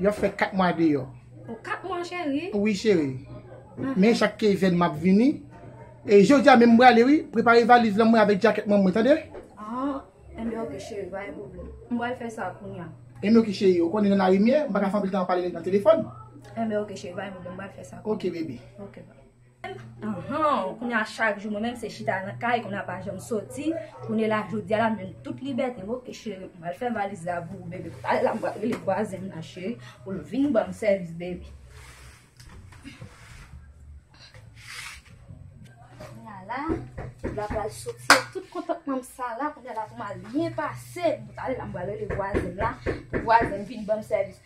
Yo ap fè 4 mwa deyò. Oh 4 mwa cheri. Wi cheri. Men chak keyfèn map vini. E jodi a menm m prale wi. Prepare valiz lan mwen avèk djakèt mwen mwen tande. Ah enben ok cheri pa gen pwoblèm. M pral fè sa kounya. Enben ok cheri. Ou konnen nan lari m ye. M paka fè anpil tan ap pale nan telefòn. Enben ok cheri pa gen pwoblèm m pral fè sa kounya. Ok baby. Ok. Ahan kounye a chak jou mwen menm se chita nan kay kounye a pa janm soti kounye la jodia la m jwenn tout libète m ok cheri m al fè valiz la pou ou bebe pa al la m pral rele vwazen m nan cheri pou l vin banm sèvis bebe kounye a la m pral soti ak tout kontantman m sa la kounye a la pou m al byen pase pou m al la m pral rele vwazen m la pou vwazen m vin banm sèvis.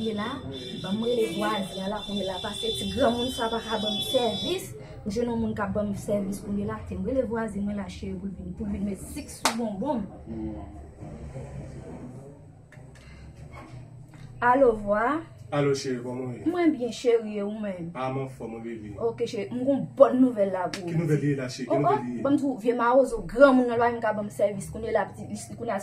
Ye la, banm rele vwazen an la pou ye la pase ti granmoun sa pa ka banm sèvis, m jwenn yon moun kap banm sèvis pou ye la, te m rele vwazen mwen la cheri pou l vin pou l vin met sik sou bonbon m. Alo vwa. Alo cheri kòman ou ye? Mwen byen cheri e ou menm? A m anfòm mwen bebe. Ok cheri, m gen yon bòn nouvèl la pou ou. Ki nouvèl li ye la cheri? Ki nouvèl li ye? Ohh, banm di ou vye mawozo granmoun nan lwa menm ka banm sèvis kounye la, kounye la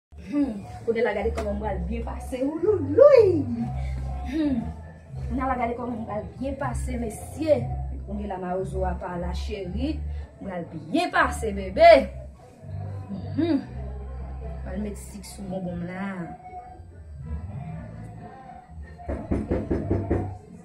Humm kounya la gade koman m pral byen pase wouloulouyy humm kounya la gade koman m pral byen pase mesye kounya la mawozo a pa la cheri m pral byen pase bebe humm m pral met sik sou bonbon m la.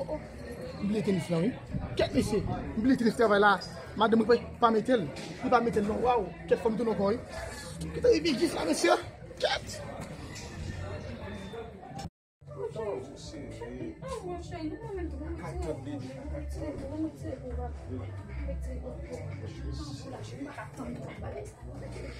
Oh oh, m bliye tenis lan wi. Kèt mesye, m bliye tenis travay la. Madanm mwen pa mete l. Li pa mete l non. Waww, kèt fò m tounen ankò wi. Kèt a rive jis la mesye. Kèt.